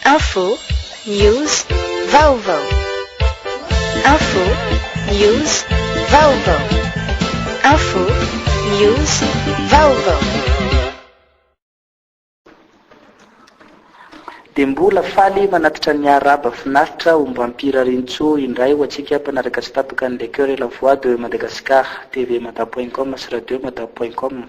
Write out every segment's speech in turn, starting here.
Info, news, vaovao. Info, news, vaovao. Info, news, vaovao. Dia mbola faly manatitra ny Araba finaritra omba ampirarintsoa indray ho antsika mpanaraka tsy tapaka ny Les Cœurs et la Voix de Madagascar, TV Mada point com sy Radio Mada point com.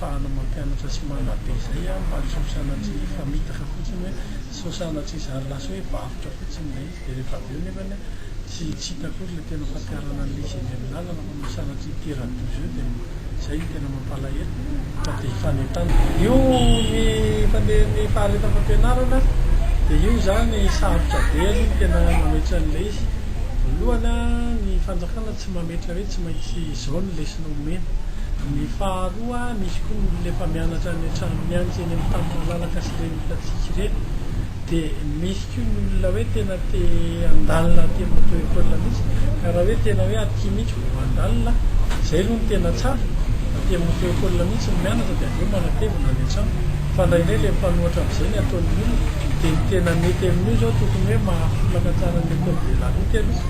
Ahafahana mampianatra sy manabe izay an, mba tsy ho sanatria hifamitaka fotsiny hoe, tsy ho sanatria izany lasa hoe varotra fotsiny ilay izy dia rehefa avy eo nefany an, tsy tsy hita akory ilay tena fampiharana an'ilay izy eny amin'ny lalana fa no sanatria hitera-doza eo dia izay no tena mampalahelo fa dia hifanentanana. Io ny fandehan'ny faharetan'ny fampianarana dia io izany sarotra be aloha ny tena mametra an'ilay izy, voalohany an, ny fanjakana tsy mametra hoe tsy maintsy Izao ny lesona omena. Ny faharoa, misy koa ny olona efa mianatra any an-trano mianaka eny amin'ny tany malalaka sy ireny hitantsika ireny. Dia misy koa ny olona hoe tena te handalina aty amin'ny auto école mihitsy. Ka raha hoe tena hoe aty mihitsy vao handalina, izay aloha no tena tsara, aty amin'ny auto école mihitsy ny mianatra dia avy eo manatevina any an-trano. Fa indraindray ilay mifanohitra amin'izay ny ataon'ny olona. Dia ny tena mety amin'io izao tokony hoe mahafolaka tsara ny école de la route aloha.